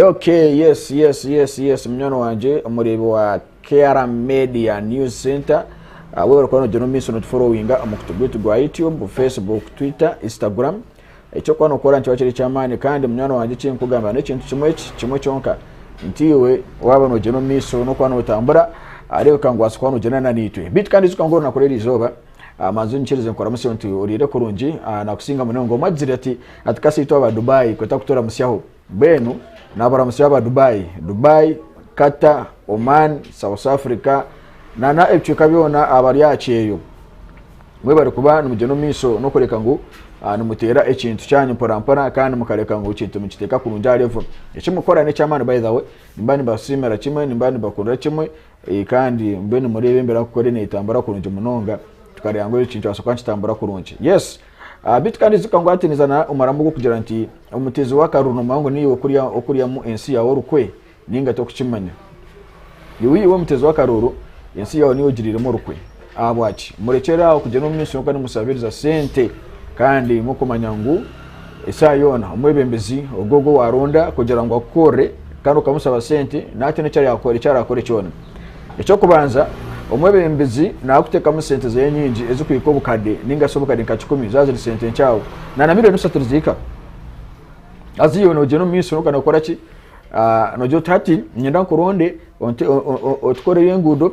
Ok yes yes yes yes munywani wangye omureebi wa KR Media News Center awe ah, orikuba nogira omumaiso notuforowinga omu kutu gwitu gwa YouTube, Facebook, Twitter, Instagram ekyokuba nokora nikiba kiri ekyamaani kandi munywani wangye ekinkugamba n'ekintu kimwe eki kimwe kyonka nti iwe waaba nogira omumaiso nokuba notambura areebeka ngu waasa kuba nogira na naitwe bitu kandi ijuka ngu orunaku rw'erizooba Manzi onyikirize nkuramutse nti oriire kurungi nakusinga munonga. Omwe agizire ati ati kasaitu aba Dubai kweta kuturamusyaho mbwenu naburamusya aba Dubai Dubai Qatar Oman South Africa na na ebicweka byona abari aha kyeyo mwe bari kuba nimugyenda omu maiso nokureka ngu nimuteera ekintu kyanyu mpora mpora kandi mukareka ngu ekintu nikiteeka kurungi aha level ekimukora nekyamani by the way nimba nibasiimira kimwe nimba nibakurira kimwe Kandi mbwenu mureeba emibiri akukora netambura kurungi munonga tukareeba ngu eki nikibasa kuba nikitambura kurungi yes ah, bitu kandi ijuka ngu hati niza na omurambo gw'okugira nti omutezi w'akaruru nomanya ngu niiwe okurya okuryamu ensi yawe orukwe ninga tokukimanya iwe iwe omutezi w'akaruru ensi yawe niiwe ogiriiremu orukwe Ahabwaki murekyera aho kugyenda omu misyo kandi musabiriza sente kandi mukumanya ngu esaaha yoona omwebembezi ogwo ogwo waronda kugira ngu akukorere kandi okamusaba sente natina ekyarakore kyona. Ekyokubanza omwebembezi nakutekamu sente zeye nyingi ezikuhika obukade ninga shi obukade nka kikumi zaba ziri sente nkyawe na na million isatu nizihika haza iwe nogyenda omu misyo kandi nokoraki nogira oti hati ninyenda nkuronde otukorere enguudo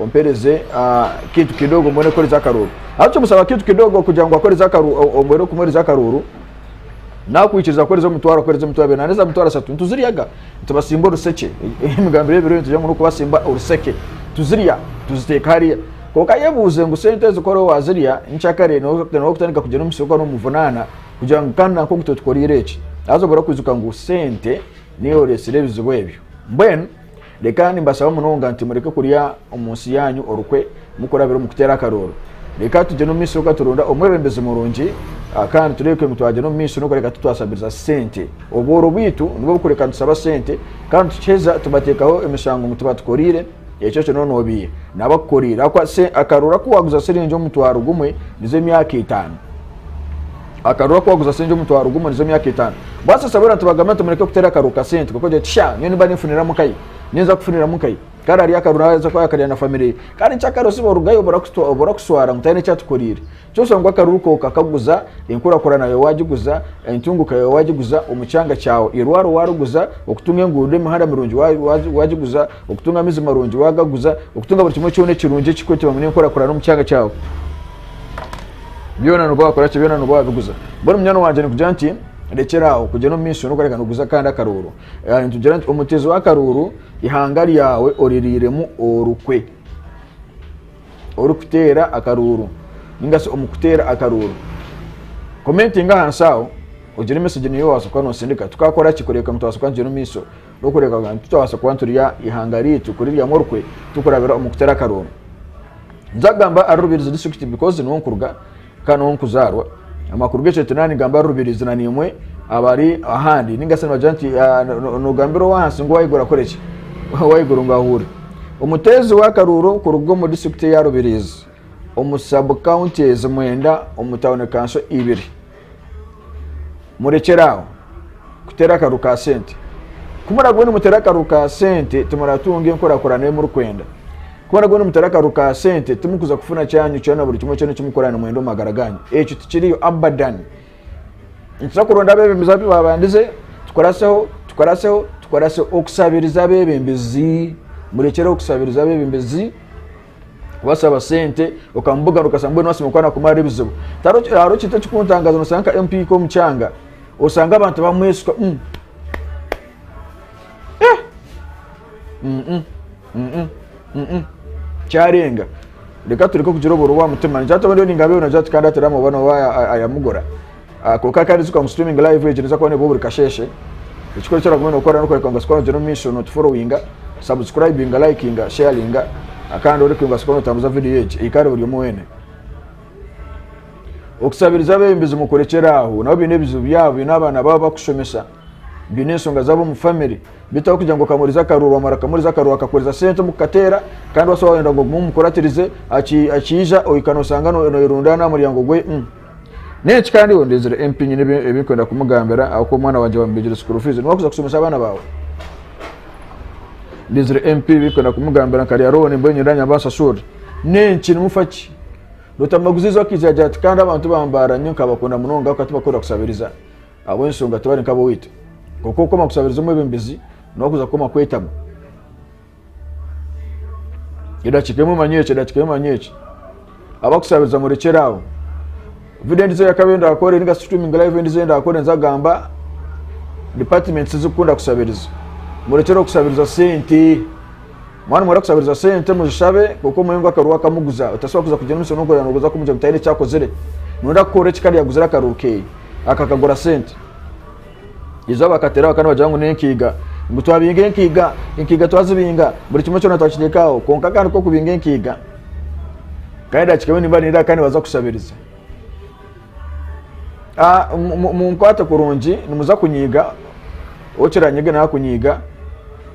Ompereze akintu kidogo mbone kukoreza akaruru. Aho kimusaba akintu kidogo kugira ngu akoreze akaruru, omwere okumwereza akaruru. Nakwikiriza kukoreza omutwaro, akoreza omutwaro abiri, nahereza omutwaro asatu. Nituziryaga, nitubasimba orusekye. Emigambire y'ebiro nitugira ngu n'okubasimba orusekye. Tuzirya, tuziteeka hariya. Kwonka ayebuuze ngu sente ezi kora wazirya, nikyakare noba kutandika kugira omu musiri gwawe nomuvunaana kugira ngu kandi nanka ogu totukoreire eki. Haza obure kwijuka ngu sente niyo eyoretsire ebizibu ebyo. Mbwenu. Leka nimbashaba munonga nti mureke kurya omu nsi yaanyu orukwe mukurabira omu kuteera akarooro. Leka tugyende omu maiso tukaturonda omwebembezi murungi kandi tureebeke ngu twagyenda omu maiso n'okureka titwashabiriza sente. Obworo bwaitu nibwo bukureka tushaba sente kandi tukiheza tubateekaho emishango ngu tibatukoriire, ekyo ekyo nooba noobiiha n'abakukoriire ahakuba akarooro aku waaguza shiringi omutwaro gumwe nizo emyaka etaano. Akarura aku waguza sengye omutwaro gumwe nizo myaka etaano. Bwatsi Saburi ati bagambire nti mureke kuteera akaruru ka sente kwonka ogira oti shaa nyowe nimba ninfuniramu nkayi ninza kufuniramu nkayi kare arye akaruru aze ku akarya na family ye kandi kyakare osibe orugayo oburakuswara ngu tihine ekyatukoriire kyoshusha ngu akaruru ko okakaguza enkurakurana yawe wagiguza entunguka yawe wagiguza omu kyanga kyawe irwaro wariguza okutunga enguudo emihanda mirungi wagiguza okutunga amaizi marungi wagaguza okutunga buri kimwe kyona ekirungi ekirikureetebwa ngu n'enkurakurana omu kyanga kyawe. Byona nooba waakora ki, byona nooba waabiguza. Mbwenu munywani wangye nikugira nti, Rekyera aho kugyenda omu maisho n'okureeka nooguza akandi akaruuru. Eeh, nitugira nti, Omutezi w'akaruuru, eihanga ryawe oririiremu orukwe. Orikuteera akaruuru, nainga shi omu kuteera akaruuru. Komentinga ahansi aho, ogire mesegi niiwe waabaasa kuba noosindika. Tukaakora ki kureeka ngu twabaasa kuba nitugyenda omu maisho n'okureeka ngu titwabaasa kuba niturya eihanga ryaitu kuriryamu orukwe, turikurabira omu kuteera akaruuru? Nza kugamba ari Rubirizi district because niho nkuruga kandi niho nkuzarwa. Amakuru g'ekyetu nani gamba ari Rubirizi na nimwe abari ahandi ningasi nibagira nti ah, nogambira owahansi ngu owahiguru akore ki? Owahiguru ngu ahure. Omuteezi w'akaruuro kuruga omu district ya Rubirizi omu sub counties mwenda omu town kanso ibiri. murekyere aho kuteera akaru ka sente ku muragwe nimuteera akaru ka sente timuratunga enkurakurana ei murikwenda ku muragwe nimuteera akaru ka sente timukuza kufuna kyanyu kyona buri kimwe kyona ekimukora nimwenda omu magara ganyu ekyo tikiriyo abadan nituza kuronda abebembezi abu babandize tukoraseho tukoraseho tukoraseho okusabiriza abebembezi murekyereho okusabiriza abebembezi Waashaba sente okamubugaana okashanga mbwenu waasiima kuba nakumara ebizibu. Hariho ekintu ekikuntangaza noshanga nka MP hika omu kyanga oshanga abantu bamweshuka mm. Eh! Mm -mm. Mm -mm. Mm -mm. Kyarenga. Reka tureke kugira oburobo aha mutima. Nikiratuma ndiyo ningabeyo na Jati kandi atari amabona oba ayamugura. Kwonka kandi zuka ngu streaming live egyo neeza kuba neebwaho buri kasheeshe. Ekikuru eki oraguma nookora n'okworeka ngu Sikoora ogyine omu maisho nootuforowinga, sabusikurayibinga, layikinga, sheyaringa kandi oreke ngu Sikoora nootambuza vidiyo egi ehiikare buri omwe weena. Okusabiriza abeebembezi mukurekyera aho. Nabo baine ebizibu byabo, baine abaana baabo barikushomesa, baine enshonga zaabo omu famire. Beitu ahabw'okugira ngu okamuhuriza akaruuru waamara okamuhuriza akaruuru akakuheereza sente omu kukateera kandi waaba waayenda ngu ogume omukuratirize, akiija ohika nooshanga nooyerundaana aha muryango gwe. Nenki kandi iwe ondizire MP nyine ebinkwenda kumugambira ahabwokuba omwana wangye bamubijire school fees niwe akuza kushomesa abaana baawe? Ndizire MP ebinkwenda kumugambira nkarya loan mbwenu nyowe ndanyamba nsashuure nenki nimufaki? Rutamaguzi izooba akaija agira ati kandi abantu bambaara nyo nkabakunda munonga ahabwokuba tibakunda kusabiriza ahabw'enshonga tibari nk'abowaitu kwonka okukoma kusabiriza omwebembezi niwe akuza kukoma kwetama. Edakiika emwe manya eki edakiika emwe manya eki abakushabiza murekyere aho video endijo eyakaba eyenda kukora ninga streaming live endijo eyenda kukora enza kugamba departments zikukunda kushabiriza murekyere okushabiriza sente mwana mwara kushabiriza sente muzishabe kuko omwe ngu akaruru akamuguza otasobola kuza kugira omushana okurira noguza kumugira ngu tayine ekyakozire nonda kukora eki kandi yaguzire akaruru keye akakagura sente Izooba bakateeraho kandi bagira ngu n'enkiiga. Ngu twabinga enkiiga, enkiiga twazibinga, buri kimwe kyona twakiteeka aho. Kwonka kandi ku okubinga enkiiga, kandi edakika emwe nimba nindira kandi nibaza kushabiriza. Ah, munkwate kurungi, nimuza kunyiiga, okiranyiga nawe akunyiiga,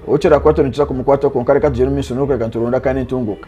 okirakwata nikiza kumukwata kwonka reka tugyere omu maisho n'okureeba nituronda kandi nitunguuka.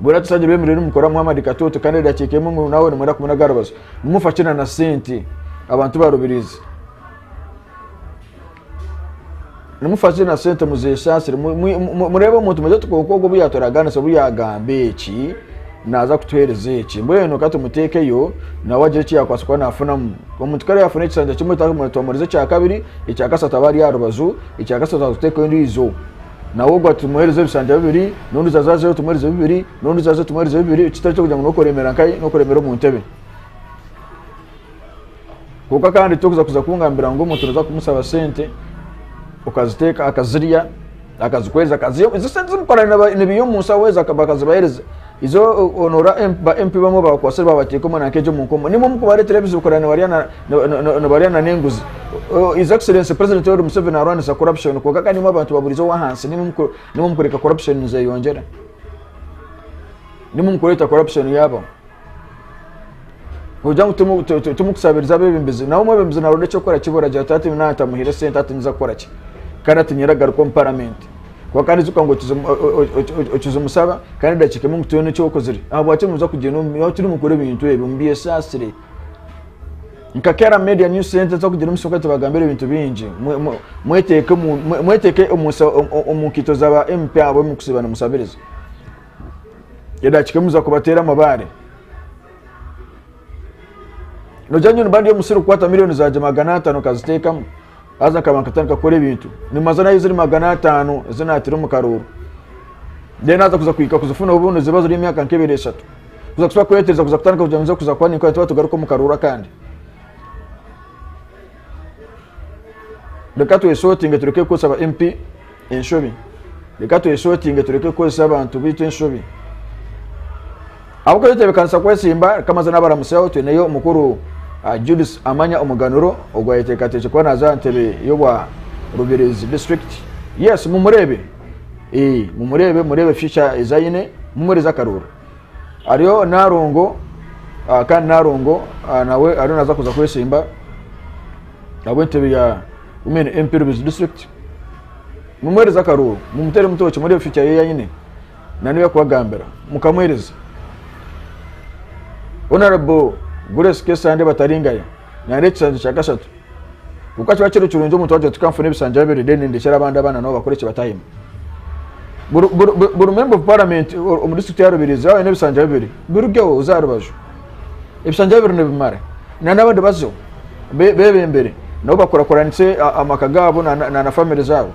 Bwenu atusangire bemereire nimukora Muhammad katoto kandi edakiika emwe ngu nawe nimwenda kumunaga aha rubaju. Nimufa ki na na sente abantu barubiriize? Nimufa ki na sente muzeesaasire? Mu- mu- mu- Mureebe omuntu muje tukonka ogwo obu yaaturagaanisa obu yaagamba eki naaza kutuheereza eki. Mbwenu ka tumuteekeyo nawe agire eki yaakubaasa kuba naafunamu. Omuntu kare yaafuna ekisanja kimwe ta- twamurize ekya kabiri, ekya kasatu aba ari aha rubaju, ekya kasatu aza kuteekaho endiijo. nawe ogu atumuhereza ebishanja bibiri, n'ondiijo aze azeyo tumuhereze bibiri, n'ondiijo aze tumuhereze bibiri, ekitari ky'okugira ngu n'okuremera nkai n'okuremera omu ntebe. Kwonka kandi tokuza kuza kungambira ngu omuntu noza kumusaba sente okaziteeka akazirya akazikuhereza akaziha, ezo sente zimukorera nibiha omu nshaho ezo bakazibahereza. Izo onora ba MP bamwe bakwatsire babateeka omwana nka egyo omu nkomo. Nimwo mukubaretera ebizokora nibarya na nibarya na n'enguzi. His Excellency President Yoweri Museveni arwanisa corruption kwonka kandi nimwo abantu baburize owahansi nimwo muku nimwo mukureka corruption nizeyongyera. Nimwo mukureta corruption yabaho. Kugira ngu tumu- tu- tu- tumukusabiriza abebembezi nawe omwebembezi naronda ekyokukora kiba oragira ati hati nyowe naba ntamuhaire esente hati ninza kukora ki kandi hati nyowe ragaruka omu paramenti kuba kandi ijuka ngu okiza omu- o- o- o- o- o- okiza omusaba kandi edakiika emwe ngu tihaine eki okozire ahabwaki nimuza kugyenda omu- nyowe turi mukora ebintu ebyo mubyesaasire nka kera media new center nza kugira omusoka tubagambira ebintu bingi Mwe- mwe- mweteeke omu- mwe- mweteeke omu nsa- omu- omu nkaito zaba mp abo mukusiiba nimusabiriza edaakika emwe oza kubateera amabaare nogira ngu niba ndi omusiri kukwata miliyoni zangye magana ataano nkaziteekamu haza nkaba nkatandika kukora ebintu nimanza nayo ziri magana ataano ezi naataire omu karooro then haza kuza kuhika kuzifuna obu niziba ziri emyaka nk'ebiri eshatu kuza kusiba kwetereza kuza kutandika kugira ngu nze kuza kuba ninkora nti batugaruke omu karooro akandi Reka twesotinge tureke kukozesa aba MP enshobi. Reka twesotinge tureke kukozesa abantu baitu enshobi. Ahabw'okuba tutebekanisa kwetsimba, reka maze nabaramuseho twineyo omukuru uh, Judith Amanya Omuganuro ogwo ayeteekateekye kuba naaza aha ntebe y'obwa Rubirizi district. Yes, mumureebe. Ee, mumureebe, mureebe future ezi aine, mumuheereze akarooro. Hariho narongo kandi narongo nawe ariyo naza kuza kwesimba ahabw'entebe ya Women MP Rubezi District. Mumuhereze akaruuru, mumuteere mutookye murebe future ye yaine na n'ebi arikubagambira mukamuhereza. Honourable Grace Kesande Bataringaya naareeta ekishanjo kya kashatu. Kwonka kiba kiri kirungi omuntu waagira oti kanfune ebishanja bibiri then ndekyere abandi abaana nabo bakore eki batahemu. Buri member of parliament omu district ya Rubirizi yaaba aine ebishanja bibiri birugeho oze aha rubaju. Ebishanja bibiri nibimara. Na n'abandi bazeho bebembere nabo bakurakuranise amaka gaabo na family zaabo.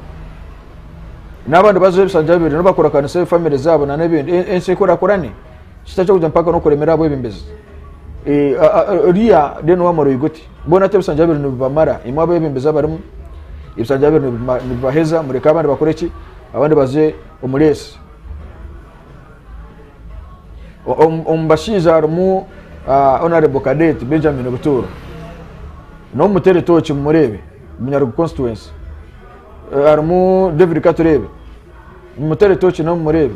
N'abandi bazeho ebishanja bibiri nabo bakurakuranise family zaabo na n'ebindi ensi ekurakurane. Tikitari ky'okugira mpaka n'okuremera ahabwebembezi. Oriya then waamara oyige oti. Boona ti ebisanja bibiri nibibamara. Imwe abebembezi abarimu, ebisanja bibiri nibibaheza, mureke abandi bakore ki? Abandi baze omu reesi. Omu bashaija harimu ah, Honorable Cadet Benjamin Butuuro. N'omutere tooki mumureebe, Munyarugu constituency. Eh, harimu David Katureebe. Mumutere tooki nawe mumureebe.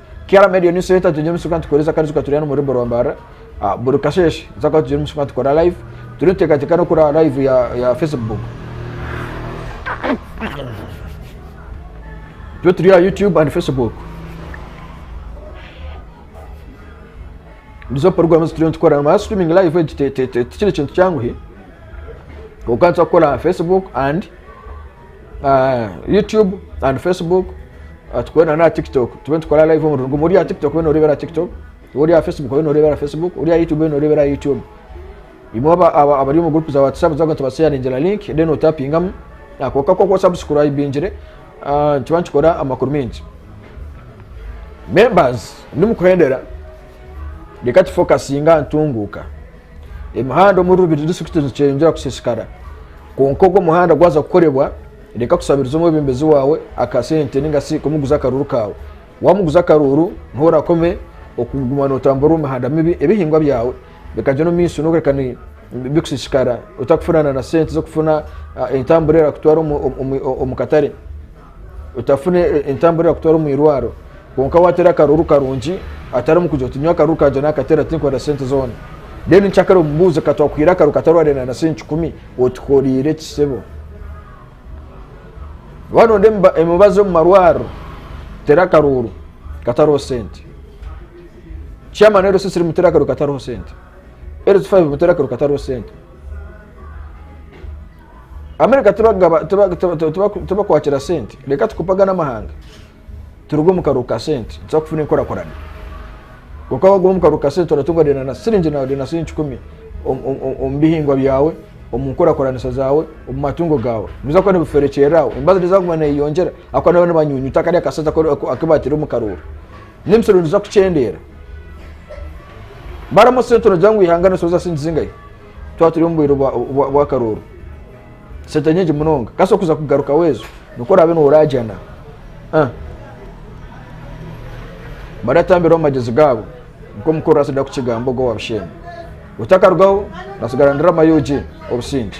Kera media yo niso yeta tugire musuka nitukoresa kandi tukaturira no muri Borwa Mbarara. Ah, buri kasheshe nza kwa tugire musuka tukora live. Turi tutekateka no kora live ya, ya Facebook. Turi turi ya YouTube and Facebook. Nizo program zituriyo nitukora. Ama streaming live egi te- te- te- tikiri kintu kyanguhi. Konka nza kukora ha Facebook and ah, youtube and facebook ah, tukore na na tiktok tube nitukora live omurundi gumwe ori aha tiktok obe noreebera aha tiktok ori aha facebook obe noreebera aha facebook ori aha youtube obe noreebera aha youtube imwe aba- aba- abari omu group za whatsapp zaga tubasheyaringira link then otapingamu ako kako ku subscribingire ah, nituba nitukora amakuru mingi members ndimukuhendera reka tufokasinga aha ntunguuka Emihanda omuri Rubiri disiturikiti nikikyeyongyera kusiisikara. Kwonka ogwo muhanda gwaza kukorebwa, reka kusabiriza omwebembezi waawe akasente ninga si kumuguza akaruuru kaawe. Waamuguza akaruuru, niho orakome okuguma nootamburira omu mihanda mibi. Ebihingwa byawe bikagyenda omu maisho n'okureka bikusiisikara otakufunana na sente z'okufuna ah, entambura erakutwara omu katare. otafuna entambura erakutwara omu irwaro kwonka watera akaruru karungi atari omukugira oti nyowe akaruru kangye nakatera tinkorera sente zona then nkyakare omubuuze katwakuhaire akaruru katarwarira na sente kikumi otukoreire eki sebo waba nonda emibazi omu marwariro tera akaruru katariho sente chairman rssr mutera akaruru katariho sente rs5 mutera akaruru katariho sente America tibakwakira sente reka tukopagane amahanga turuge omu karuhu ka sente nituza kufuna enkurakurana kwonka wagume omu karuhu ka sente oratunga rero na siringi na rero na siringi kikumi omu bihingwa byawe omu nkurakuranisa zawe omu matungo gawe nibiza kuba nibiferekyerera aho embazo nezaguma neyeyongyera ahabw'okuba nibaba nibanyunyuta kariya ka sente aku batire omu karuuru n'emisoro niza kukyendera baramu sente nogira ngu eihanga nirisoboza sente zingahi? twaba turi omu bwire bw'akarooro sente nyingi munonga kasi okuza kugarukaho ezo nikwo oraabe nooraagyana ah. baratambiraho amagezi gaabo nikwo mukuru oraasa da kukigamba ogwo wabusheenya otakarugaho natsigara ndirama yugi obusinge